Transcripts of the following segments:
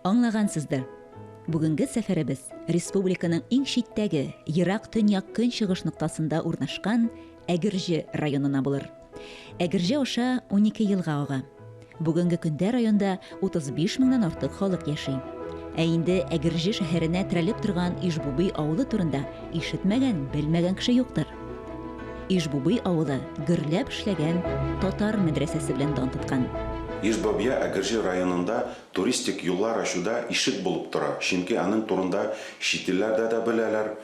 Аңлагансыздыр. Бүгенге сәфәребез республиканың иң читтәге, ерак төньяк-көнчыгыш ноктасында урнашкан Әгерҗе районына булыр. Әгерҗе аша унике елга ага. Бүгенге көндә районда 35 меңнән артык халык яши. Ә инде Әгерҗе шәһәренә терәлеп торган Ижбубый авылы турында ишетмәгән, белмәгән кеше юктыр. Ижбубый авылы гөрләп эшләгән татар мәдрәсәсе белән дан тоткан. Ижбобья Әгерҗе районында туристик юллар ачуда ишек булып тора, чөнки аның турында чит илләрдә дә беләләр,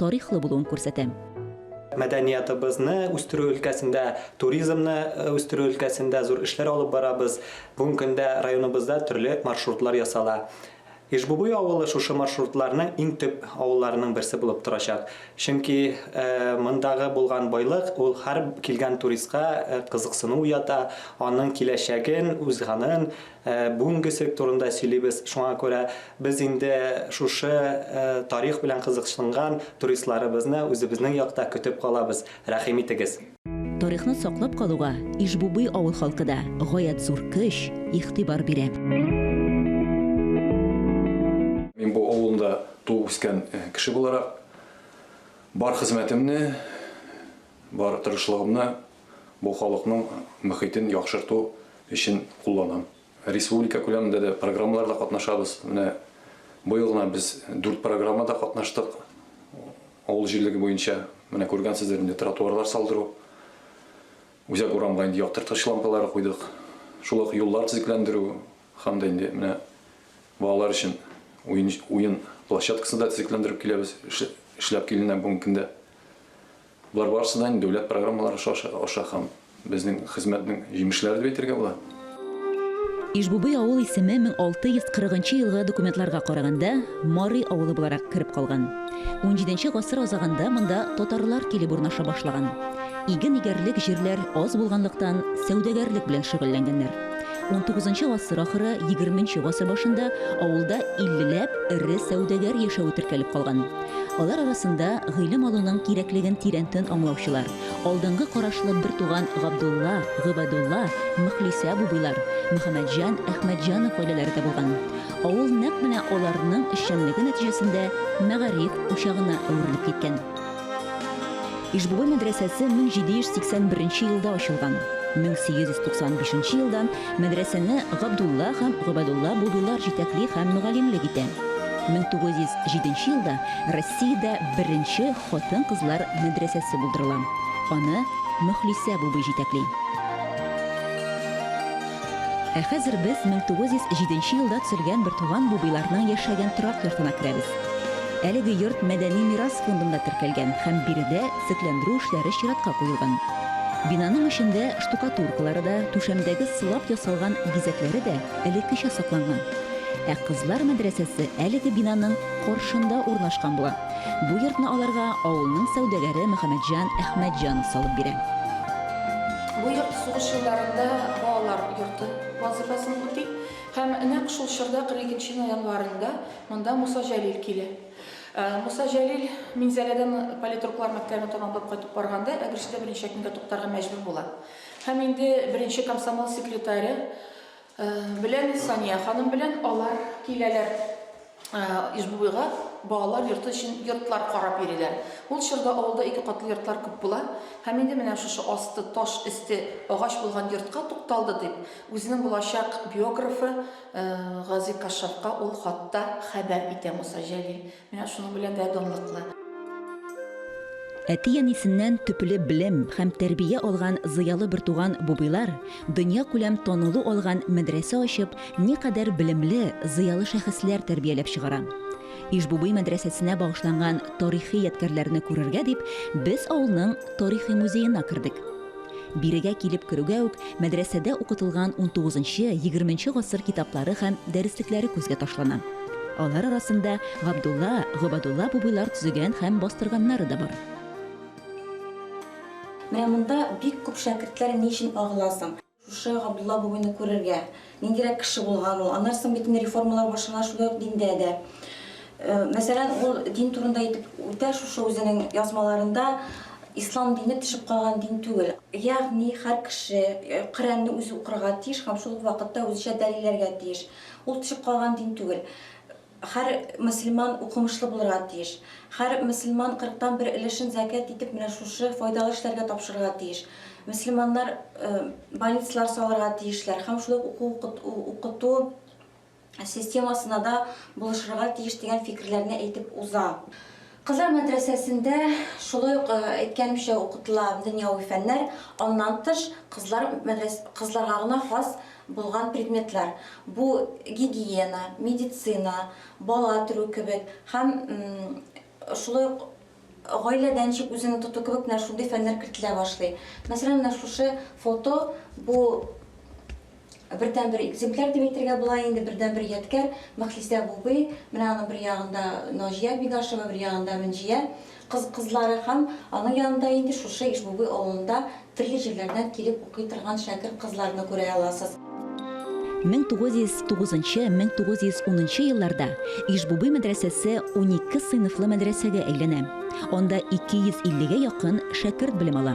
тарихлы булуын күрсәтәм. Мәдәниятыбызны үстерү өлкәсендә, туризмны үстерү өлкәсендә зур эшләр алып барабыз. Бүгенге көндә районыбызда төрле маршрутлар ясала. Ижбубуй авылы шушы маршрутларның иң төп авылларының берсе булып торачак. Чөнки мондагы булган байлык, ул һәр килгән туристка кызыксыну уята, аның киләчәген, үз ганын Ә бүгенге цирк турында сөйлибез, шуңа күрә без инде шушы тарих белән кызыксынган туристларыбызны үзебезнең якта көтеп калабыз, рәхим итегез. Тарихны саклап калуга Иж-Бубый авыл халкы да гаять зур көч, игътибар бирә. Мин бу авылында туып-үскән кеше буларак, бар хезмәтемне, бар тырышлыгымны Бу халыкның мөхитен яхшырту өчен кулланам. Республика күләмендә дә программаларда катнашабыз. Менә быел гына без дүрт программада катнаштык авыл җирлеге буенча. Менә күргәнсездер инде, тротуарлар салдыру, үзәк урамга инде яктырткыч лампалары куйдык, шул ук юллар төзекләндерү һәм дә инде менә балалар өчен уен площадкасы да төзекләндереп киләбез, эшләп киленә бүгенге көндә. Болар барысы да дәүләт программалары аша һәм безнең хезмәтнең җимешләре дип әйтергә була. Ижбубый авыл исеме 1640 нчы елгы документларга караганда, Марый авылы буларак кереп калган. XVII нче гасыр азагында монда татарлар килеп урнаша башлаган. Иген игәрлек җирләр аз булганлыктан, сәүдәгәрлек белән шөгыльләнгәннәр. XIX гасыр ахыры, XX гасыр башында авылда иллеләп эре сәүдәгәр яшәве теркәлеп калган. Алар арасында гыйлем алуның кирәклеген тирәнтен аңлаучылар, алдынгы карашлы бертуган Габдулла, Гыйбадулла, Мөхлисә абубыйлар, Мөхәммәтҗан, Әхмәтҗанов гаиләләре дә булган. Авыл нәкъ менә аларның эшчәнлеге нәтиҗәсендә мәгариф учагына әверелеп киткән. Ижбуе мәдрәсәсе 1781 елда ачылган. 1895 елдан мәдрәсәне Габдулла һәм Гобәдулла Будулар җитәкли һәм мөгаллимлек итә. 1907 елда Россиядә беренче хатын-кызлар мәдрәсәсе булдырыла. Аны Мөхлисә бубый җитәкли. Ә хәзер без 1907 елда төзелгән Бертуган бубыйларның яшәгән торак йортына керәбез. Әлеге йорт мәдәни мирас фондында теркәлгән һәм биредә төзекләндерү эшләре чиратка куелган. Бинаның эчендә штукатуркалары да, түшәмдәге сылап ясалган бизәкләре дә элеккечә сакланган. Ә кызлар мәдрәсәсе әлеге бинаның каршында урнашкан була. Бу йортны аларга авылның сәүдәгәре Мөхәммәтҗан Әхмәтҗанов салып бирә. Бу йорт сугыш елларында балалар йорты вазыйфасын үти һәм нәкъ шул чорда, 42 нче ноябрендә, Монда Муса Җәлил килә. Муса Җәлил Минзәләдән политруклар мәктәбен тәмамлап кайтып барганда Әгерҗедә берничә көнгә туктарга мәҗбүр була. Һәм инде беренче комсомол секретаре белән Сания ханым белән алар киләләр Ижбубыйга балалар йорты өчен йортлар карап йөриләр. Ул чорда авылда ике катлы йортлар күп була. Һәм инде менә шушы асты таш, өсте агач булган йортка тукталды дип, үзенең булачак биографы Гази Кашшафка ул хатта хәбәр итә Муса Җәлил. Менә шуның белән дә данлыклы. Әти-әнисеннән төпле белем һәм тәрбия алган зыялы бертуган Бубыйлар дөньякүләм танылу алган мәдрәсә ачып, никадәр белемле, зыялы шәхесләр тәрбияләп чыгара. Иж-Бубый мәдрәсәсенә багышланган тарихи ядкәрләрне күрергә дип, без авылның тарихи музеена кердек. Бирегә килеп керүгә үк мәдрәсәдә укытылган унтугызынчы, егерменче гасыр китаплары һәм дәреслекләре күзгә ташлана. Алар арасында Габдулла, Гобадулла бубыйлар төзегән һәм бастырганнары да бар. Менә монда бик күп шәкертләр ни өчен агыла соң? Шушы Габдулла бубыйны күрергә, Ниндирәк кеше булган ул? Аннан соң бит инде реформалар башлана шулай ук диндә дә. Мәсәлән, ул дин турында әйтеп үтә шушы үзенең язмаларында, Ислам дине төшеп калган дин түгел. Ягъни һәр кеше Коръәнне үзе укырга тиеш һәм шул ук вакытта үзечә дәлилләргә тиеш. Ул төшеп калган дин түгел. Һәр мөселман укымышлы булырга тиеш. Һәр мөселман кырыктан бер өлешен зәкят итеп менә шушы файдалы эшләргә тапшырырга тиеш. Мөселманнар больницалар салырга тиешләр һәм шулай ук уку-укыту системасына да булышырга тиеш дигән фикерләрне әйтеп уза. Кызлар мәдрәсәсендә шулай ук әйткәнемчә укытыла дөньяви фәннәр, аннан тыш кызлар кызларга гына хас булган предметлар, бу гигиена, медицина, бала төрү кебек һәм шулай ук гаиләдә ничек үзеңне тоту кебек менә шундый фәннәр кертелә башлый. Мәсәлән, менә шушы фото, бу Бердәнбер экземпляр дип әйтергә була инде, бердәнбер ядкәр Мөхлисә Бубый, менә аның бер ягында Наҗия Бидашева, бер ягында Мөнҗия кыз кызлары һәм аның янында инде шушы Ишбубый авылында төрле җирләрдән килеп укый торган шәкерт кызларны күрә аласыз. 1909-1910 елларда Ишбубый мәдрәсәсе унике сыйныфлы мәдрәсәгә әйләнә, анда 250 гә якын шәкерт белем ала.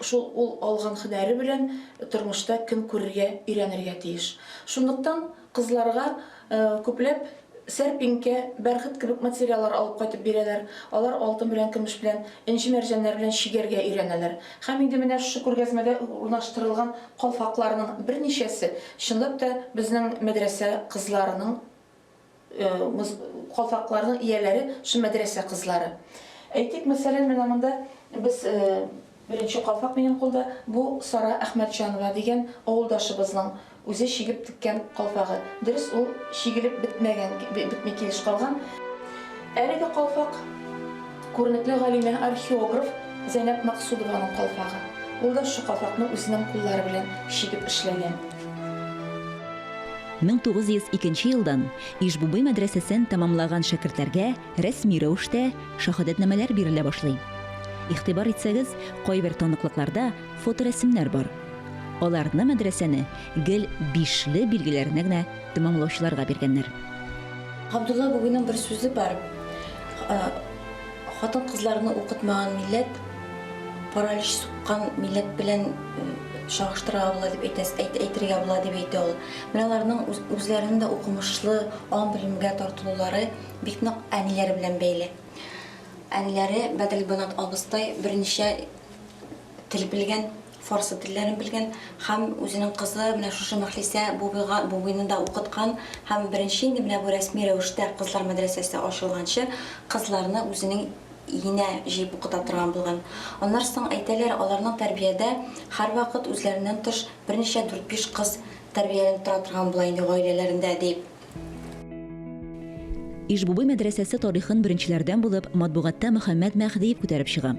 Шул ул алган һөнәре белән тормышта көн күрергә өйрәнергә тиеш. Шунлыктан кызларга күпләп сәрпинкә, бәрхет кебек материаллар алып кайтып бирәләр. Алар алтын белән, көмеш белән, энҗе-мәрҗәннәр белән чигәргә өйрәнәләр. Һәм инде менә шушы күргәзмәдә урнаштырылган калфакларның берничәсе, чынлап та, безнең мәдрәсә кызларының Калфакларның ияләре шул мәдрәсә кызлары. Әйтик, мәсәлән, менә монда без беренче калфак минем кулда, бу Сара Әхмәтҗанова дигән авылдашыбызның үзе чигеп теккән калфагы. Дөрес, ул чигелеп бетмәгән, бетми килеш калган. Әлеге калфак. Күренекле галимә, археограф Зәйнәп Максудованың калфагы. Ул да шушы калфакны үзенең куллары белән чигеп эшләгән. 1902 нче елдан Иж-Бубый мәдрәсәсен тәмамлаган шәкертләргә рәсми рәвештә шаһадәтнамәләр бирелә башлый. Игътибар итсәгез, кайбер таныклыкларда фоторәсемнәр бар. Аларны мәдрәсәне гел бишле билгеләренә генә тәмамлаучыларга биргәннәр. Габдулла Губиның бер сүзе бар, Хатын-кызларны укытмаган милләт, паралич суккан милләт белән чагыштырырга була дип әйтә, әйтергә була дип әйтә ул. Менә аларның үзләренең дә укымышлы, ан белемгә тартылулары бик нык әниләре белән бәйле. Әниләре Бәдел Банат абыстай берничә тел белгән, фарсы телләрен белгән һәм үзенең кызы менә шушы Мәхлисә бубыйга бубыйны да укыткан һәм беренче инде менә бу рәсми рәвештә кызлар мәдрәсәсе ачылганчы кызларны үзенең енә җыеп укыта торган булган. Аннары соң, әйтәләр, аларның тәрбиядә һәрвакыт үзләреннән тыш берничә дүрт-биш кыз тәрбияләнеп тора торган була инде гаиләләрендә, дип. Иж-Бубый мәдрәсәсе тарихын беренчеләрдән булып матбугатта Мөхәммәд Мәһдиев күтәреп чыга.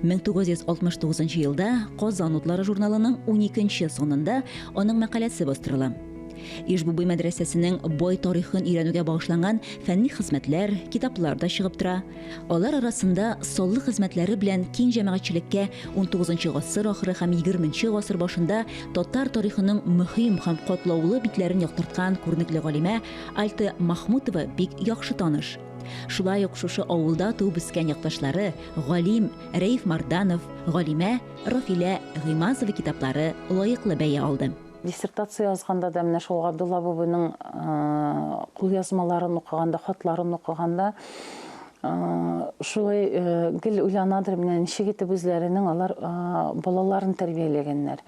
1969 елда Казан утлары журналының 12 санында аның мәкаләсе бастырыла. Иж-Бубый мәдрәсәсенең бай тарихын өйрәнүгә багышланган фәнни хезмәтләр, китаплар да чыгып тора. Алар арасында саллы хезмәтләре белән киң җәмәгатьчелеккә 19 гасыр ахыры һәм 20 гасыр башында татар тарихының мөһим һәм катлаулы битләрен яктырткан күренекле галимә Альта Махмутова бик яхшы таныш. Шулай ук шушы авылда туып үскән якташлары галим Рәиф Марданов, галимә Рафилә Гыймазова китаплары лаеклы бәя алды. Диссертация язганда да менә шул Габдулла абыйның кулъязмаларын укыганда, хатларын укыганда шулай гел уйланадыр, менә ничек итеп үзләренең алар балаларын тәрбияләгәннәр.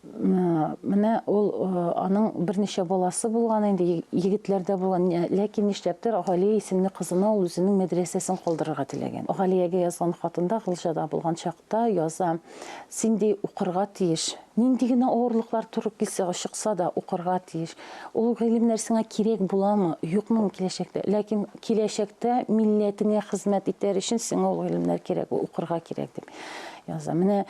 Менә ул аның берничә баласы булган инде, егетләрдә булган, ләкин нишләптер Галия исемле кызына ул үзенең мәдрәсәсен калдырырга теләгән. Галиягә язган хатында Гылҗада булган чакта яза, Син ди укырга тиеш, Нинди генә авырлыклар туры килсә, чыкса да, укырга тиеш. Ул гыйлемнәр сиңа кирәк буламы, юкмы киләчәктә? Ләкин киләчәктә милләтеңә хезмәт итәр өчен сиңа ул гыйлемнәр кирәк, укырга кирәк, дип яза. Менә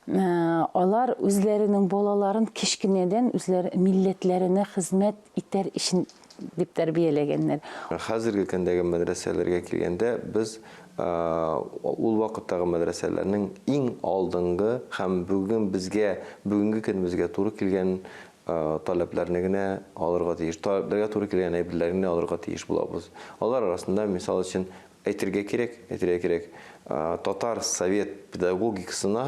алар үзләренең балаларын кечкенәдән үзләр милләтләренә хезмәт итәр өчен дип тәрбияләгәннәр. Хәзерге көндәге мәдрәсәләргә килгәндә, без ул вакыттагы мәдрәсәләрнең иң алдынгы һәм бүген безгә, бүгенге көнебезгә туры килгән таләпләрне генә алырга тиеш, таләпләргә туры килгән әйберләрне генә алырга тиеш булабыз. Алар арасында, мисал өчен, әйтергә кирәк, әйтергә кирәк, татар совет педагогикасына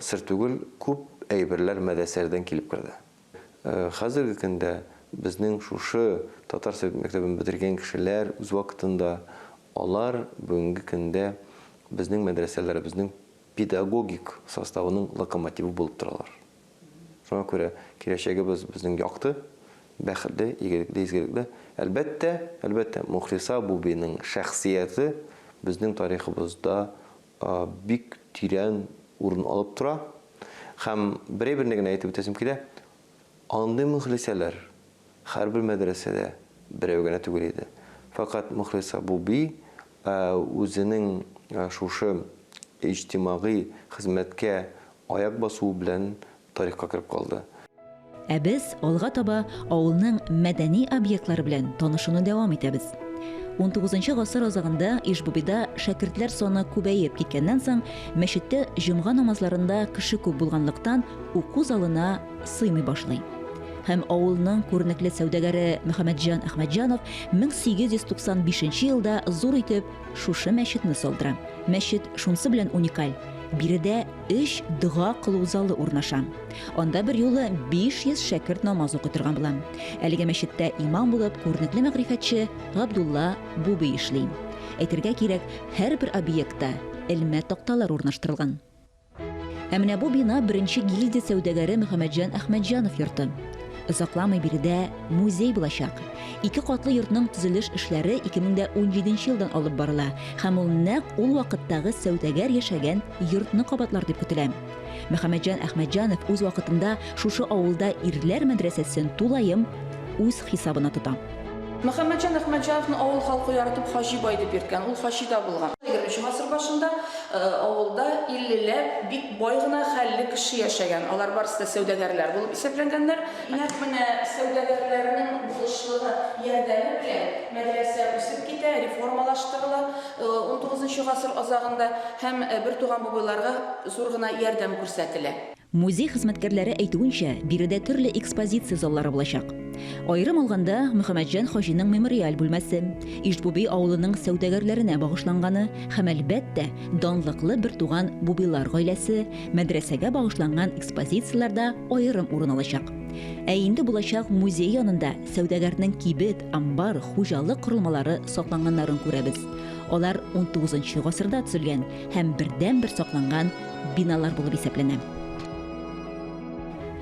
сер түгел, күп әйберләр мәдрәсәләрдән килеп керде. Хәзерге көндә безнең шушы татар совет мәктәбен бетергән кешеләр үз вакытында, алар бүгенге көндә безнең мәдрәсәләребезнең педагогик составының локомотивы булып торалар. Шуңа күрә киләчәгебез безнең якты, бәхетле, игелекле, изгелекле. Әлбәттә, әлбәттә, Мухлиса Бубиның шәхсияте безнең тарихыбызда бик тирән урын алып тора. Һәм берәйберне генә әйтеп үтәсем килә, андый Мөхлисәләр һәрбер мәдрәсәдә берәү генә түгел иде. Фәкать Мөхлисә Буби үзенең шушы иҗтимагый хезмәткә аяк басуы белән тарихка кереп калды. Ә без алга таба авылның мәдәни объектлары белән танышуны дәвам итәбез. Унтугызынчы гасыр азагында Иж-Бубида шәкертләр саны күбәеп киткәннән соң, мәчеттә җомга намазларында кеше күп булганлыктан, уку залына сыймый башлый. Һәм авылның күренекле сәүдәгәре Мөхәммәтҗан Әхмәтҗанов 1895 елда зур итеп шушы мәчетне салдыра. Мәчет шунсы белән уникаль, биредә өч дога кылу залы урнаша. Анда бер юлы 500 шәкерт намаз укый торган була. Әлеге мәчеттә имам булып күренекле мәгърифәтче Габдулла Буби эшли. Әйтергә кирәк, һәрбер объектта элмә такталар урнаштырылган. Ә менә бу бина беренче гильдия сәүдәгәре Мөхәммәтҗан Әхмәтҗанов йорты. Озакламый биредә музей булачак. Ике катлы йортның төзелеш эшләре 2017 елдан алып барыла һәм ул нәкъ ул вакыттагы сәүдәгәр яшәгән йортны кабатлар дип көтелә. Мөхәммәтҗан Әхмәтҗанов үз вакытында шушы авылда ирләр мәдрәсәсен тулаем үз хисабына тота. Мөхәммәтҗан Әхмәтҗановны авыл халкы яратып Хаҗи бай дип йөрткән, ул Хаҗи да булган. Егерменче гасыр башында авылда иллеләп бик бай гына хәлле кеше яшәгән, алар барысы да сәүдәгәрләр булып исәпләнгәннәр. Нәкъ менә сәүдәгәрләрнең булышлыгы, ярдәме белән мәдрәсә үсеп китә, реформалаштырыла унтугызынчы гасыр азагында һәм бертуган бабайларга зур гына ярдәм күрсәтелә. Музей хезмәткәрләре әйтүенчә, биредә төрле экспозиция заллары булачак. Аерым алганда, Мөхәммәтҗан хаҗиның мемориаль бүлмәсе, Иж-Буби авылының сәүдәгәрләренә багышланганы һәм, әлбәттә, данлыклы бертуган Бубилар гаиләсе, мәдрәсәгә багышланган экспозицияләр дә аерым урын алачак. Ә инде булачак музей янында сәүдәгәрнең кибет, амбар, хуҗалык корылмалары сакланганнарын күрәбез. Алар унтугызынчы гасырда төзелгән һәм бердәнбер сакланган биналар булып исәпләнә.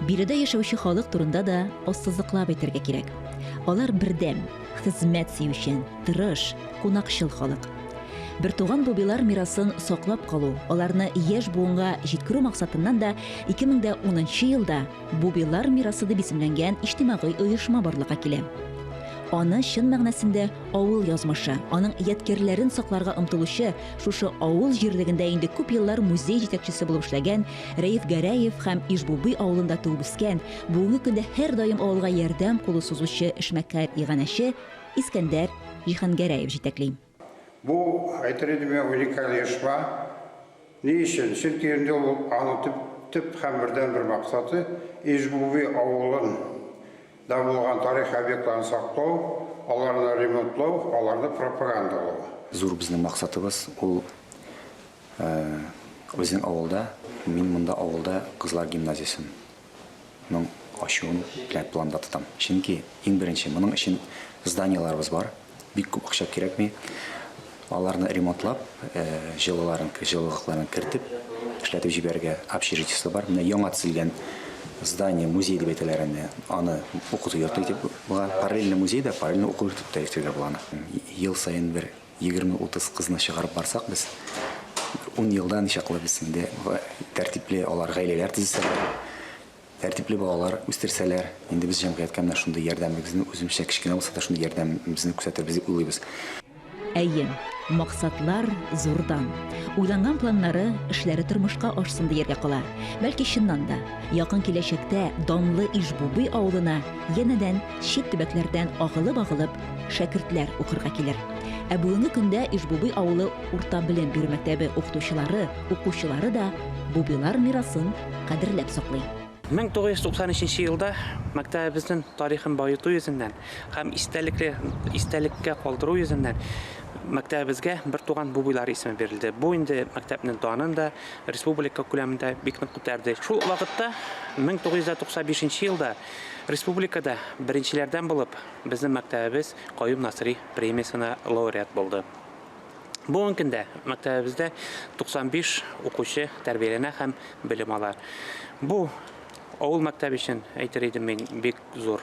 Биредә яшәүче халык турында да ассызыклап әйтергә кирәк. Алар бердәм, хезмәт сөючән, тырыш, кунакчыл халык. Бертуган бубилар мирасын саклап калу, аларны яшь буынга җиткерү максатыннан да 2010 елда Бубилар мирасы дип исемләнгән иҗтимагый оешма барлыкка килә. Аны чын мәгънәсендә авыл язмышы, аның ядкярләрен сакларга омтылучы Шушы авыл җирлегендә инде күп еллар музей җитәкчесе булып эшләгән Рәиф Гәрәев һәм Ижбуби авылында туып үскән, бүгенге көндә һәрдаим авылга ярдәм кулы сузучы эшмәкәр иганәче Искәндәр Җиһангәрәев җитәкли. Бу, әйтер идем мин, уникаль оешма. Ни өчен? Чөнки инде ул, аның төп һәм бердәнбер максаты, Ижбуби авылын да булган тарихи объектларны саклау, аларны ремонтлау, аларны пропагандалау. Зур безнең максатыбыз, ул безнең авылда, мин монда авылда кызлар гимназиясенең ачуын планда тотам. Чөнки, иң беренче, моның өчен зданиеларыбыз бар. Бик күп акча кирәкми. Аларны ремонтлап, җылыларын, җылылыкларын кертеп, эшләтеп җибәрергә общежитиесе бар. Менә яңа төзелгән здание, музей дип әйтәләр инде, аны укыту йорты итеп була. Параллельно музей дә, параллельно уку йорты да йөртергә була аны. Ел саен бер егерме-утыз кызны чыгарып барсак без, ун елда ничаклы без инде тәртипле алар гаиләләр төзесәләр, Тәртипле балалар үстерсәләр, инде без җәмгыятькә менә шундый ярдәмебезне, үземчә кечкенә булса да шундый ярдәмебезне күрсәтербез дип уйлыйбыз. Әйе, максатлар зурдан. Уйланган планнары, эшләре тормышка ашсын дияргә кала. Бәлки чыннан да, якын киләчәктә данлы Иж-Бубый авылына янәдән чит төбәкләрдән агылып-агылып шәкертләр укырга килер. Ә бүгенге көндә Иж-Бубый авылы урта белем бирү мәктәбе укытучылары, укучылары да Бубыйлар мирасын кадерләп саклый. 1993 елда мәктәбебезнең тарихын баету йөзеннән һәм истәлекле истәлеккә калдыру йөзеннән мәктәбебезгә бертуган Бубыйлар исеме бирелде. Бу инде мәктәпнең данын да республика күләмендә бик нык күтәрде. Шул вакытта 1995 елда республикада беренчеләрдән булып безнең мәктәбебез Каюм Насыйри премиясенә лауреат булды. Бүгенге көндә мәктәбебездә 95 укучы тәрбияләнә һәм белем ала. Бу авыл мәктәбе өчен әйтер идем мин бик зур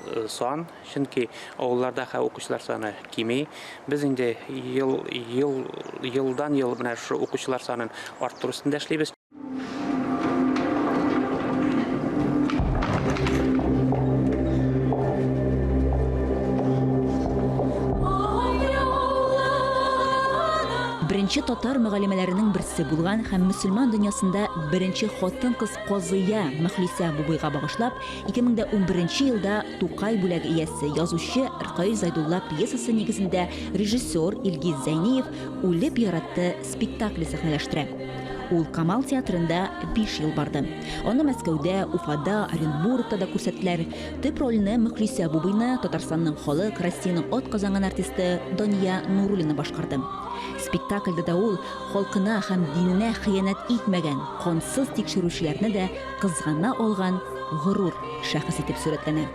э, сан, чөнки авылларда хә укучылар саны кими. Без инде ел ел елдан ел менә шушы укучылар санын арттыру өстендә эшлибез. Беренче татар мөгалимәләренең берсе булган һәм мөселман дөньясында беренче хатын-кыз казыя Мөхлисә Бубыйга багышлап 2011 елда Тукай бүләге иясе, язучы Ркаил Зайдулла пьесасы нигезендә режиссер Илгиз Зәйниев Үлеп яратты спектакле сәхнәләштерә. Ул Камал театрында биш ел барды. Аны Мәскәүдә, Уфада, Оренбургта да күрсәттеләр. Төп рольне Мөхлисә Бубыйна Татарстанның халык, Россиянең атказанган артисты Дания Нуруллина башкарды. Спектакльдә дә ул халкына һәм диненә хыянәт итмәгән, кансыз тикшерүчеләрне дә кызгана алган горур шәхес итеп сурәтләнә.